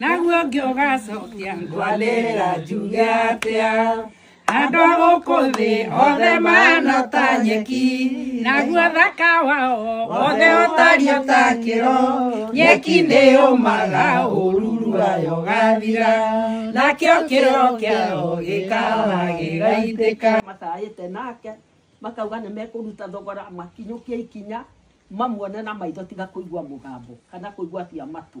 naguo ũngĩ ũgacokia ngwanĩrĩra njuge atĩa andũ a gũkũ thĩ othe mahana ta nyeki naguo thaka wao wothe ũtario ta kĩro nyeki nĩ yũmaga ũruru wayo gathira nakĩo kĩro kĩao gĩkaga gĩgaitĩka matarĩte nake makauga nĩ mekũruta thogora makinyũkie ikinya mamuone na maitho tiga kũigua mũgambo kana kũigua cia matũ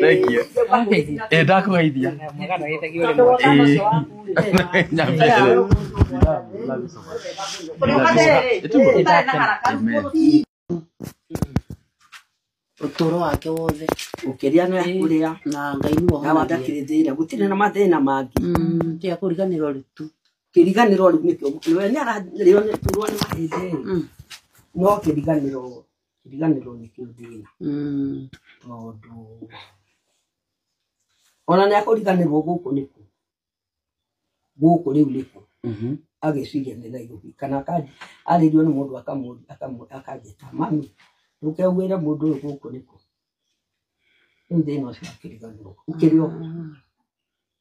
Thank you. Eh, ndakũgeithia. Eh, nyambie. Amen. ũtũro wake wothe ũkĩrĩa na kũrĩa na ngai nĩ na wandakĩrĩthĩire gũtirĩ na mathĩna mangĩ tia kũriganĩrwo rĩ tu kĩriganĩro rĩu nĩkĩo mũkĩrĩa nĩ ararĩo nĩ turwo nĩ mahĩndĩ no kĩriganĩro kĩriganĩro nĩkĩo thĩna Mm. tondũ ona nĩ akũriganĩrwo gũkũ nĩkũ gũkũ rĩu nĩkũ Mhm. agĩciria nĩ nairobi kana akanji- arĩrio nĩ mũndũ akamũ- akamũ- akanjĩta mami ndũkeuwĩre mũndũ ũyũ gũkũ nĩkũ rĩu thĩna ũcio akĩriganĩrwo ũkĩrĩ o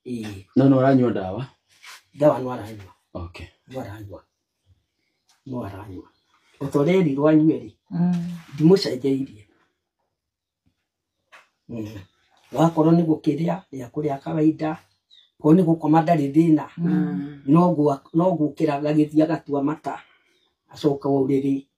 ĩĩ no no ũranyua ndawa ndawa no aranyua okay no aranyua no aranyua ota ũrerirwo anyue rĩ ndimũcenjeirie Mm. wakorwo nĩ gũkĩrĩa rĩa kũrĩa kawaida korwo nĩ gũkoma ndarĩ thĩna no gwa- no gũkĩra gagĩthiĩ agatua mata acoka ũrĩrĩ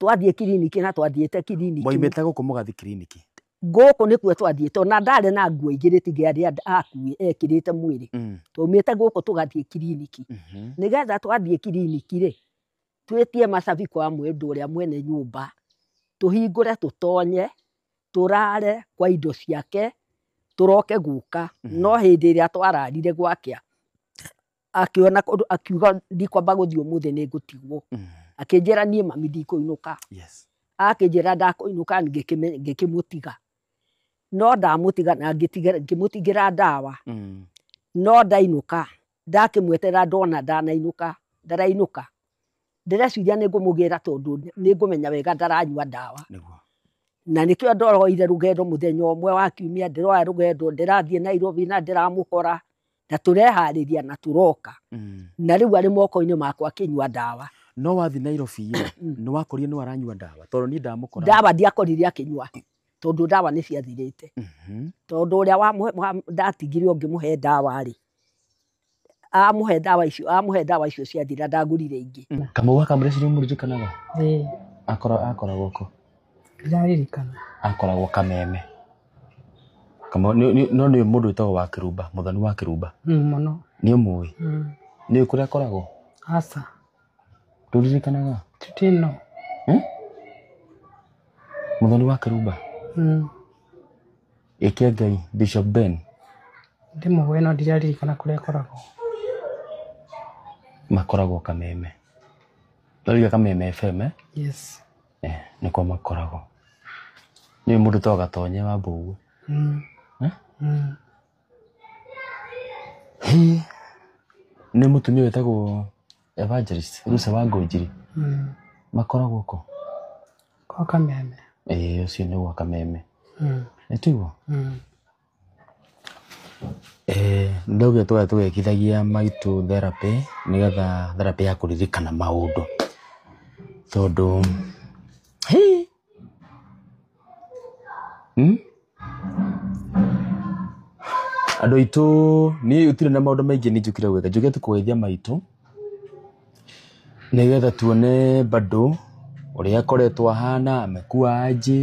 twathiĩ kiriniki na twathiĩte kiriniki moimĩte gũkũ mũgathi kiriniki ngũkũ nĩkuo twathiĩte ona ndarĩ na nguo ingĩ rĩtingĩarĩ and- akuĩ ekĩrĩte mwĩrĩ Mm, twaumĩte gũkũ tũgathiĩ kiriniki mhm. nĩgetha twathiĩ kiriniki rĩ twĩtie macabi kwa mwendũ ũrĩa mwene nyũmba tũhingũre tũtonye tũrare kwa indo ciake tũroke gũka Mhm. no hĩndĩ ĩrĩa twararire gwakĩa akĩona ũndũ akiuga ndikwamba gũthiĩ ũmũthĩ nĩ ngũtigwo Mm. akĩnjĩra niĩ mami ndikũinũka Yes. akĩnjĩra ndakũinũka ngĩkĩme- ngĩkĩmũtiga no ndamũtiga na ngĩtiga- ngĩmũtigĩra ndawa Mm. no ndainũka ndakĩmwetera ndona ndanainũka ndarainũka ndĩreciria nĩ ngũmũgĩra tondũ nĩ ngũmenya wega ndaranyua ndawa Nĩguo. na nĩkĩo ndoroire rũgendo mũthenya ũmwe wa kiumia ndĩroya rũgendo ndĩrathiĩ nairobi na ndĩramũkora na tũreharĩria na tũroka Mm. na rĩu arĩ moko-inĩ makwa akĩnyua ndawa no wathiĩ nairobi rĩ Mm. nĩ wakorire nĩ waranyua ndawa tondũ niĩ ndamũkora ndawa ndiakorire akĩnyua tondũ ndawa nĩ ciathirĩte Mhm. tondũ ũrĩa wamũhe- wa- ndatigire ũngĩmũhe ndawa rĩ amũhe ndawa icio amũhe ndawa icio ciathira ndagũrire ingĩ kamau gaka mũreciria mũririkanaga akoragwo akoragwo ko ndiraririkana akoragwo kameme Kama nĩ nĩ- no nĩ mũndũ wĩtagwo wa Kĩrumba, mũthoni wa Kĩrumba. Mm, mũno Nĩ ũmũĩ. Mm. Nĩ ũĩ kũrĩa akoragwo? aca Ndũririkanaga? tutino Eh? Mũthoni wa Kĩrumba. Mm. Ĩke Ngai, Bishop Ben. ndĩmũĩ no ndiraririkana kũrĩa akoragwo Makoragwo Kameme. Ndariga Kameme FM, eh? yes Eh, nĩkuo makoragwo nĩ mũndũ to gatonye wa mbũguo Eh? Hĩ, nĩ mũtumia wĩtagwo evangelist rusa wa ngũnjiri makoragwo kũ kwa kameme ĩĩ ũcio nĩ gwa kameme nĩ tiguo Nĩ ũndũ twothe tũgĩkithagia maitũ therapĩ nĩ getha therapĩ ya kũririkana maũndũ tondũ andũ aitũ niĩ gũtirĩ na maũndũ maingĩ niĩ njũkire gwĩka. Njũkĩte kũgeithia maitũ nĩ getha tuone bado ũrĩa akoretwo ahana, amekuwa aje.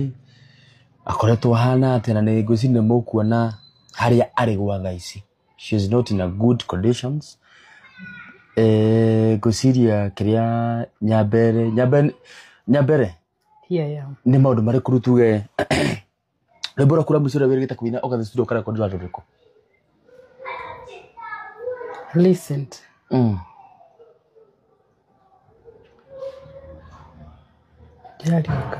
akoretwo ahana atĩa na nĩ ngwĩciria nĩ mũkuona harĩa arĩ gwa thaa ici she is not in a good conditions eh, ngwĩciria kĩrĩa nyambere nyambere nyambere Here I am. nĩ maũndũ marĩkũ rĩu tuge rwĩmbo rwaku rwa mũico rũrĩa wĩrĩgĩte kũina ũgathiĩ studio ũkarekondera rũrĩkũ Listen. Mm. Ndĩrariũka.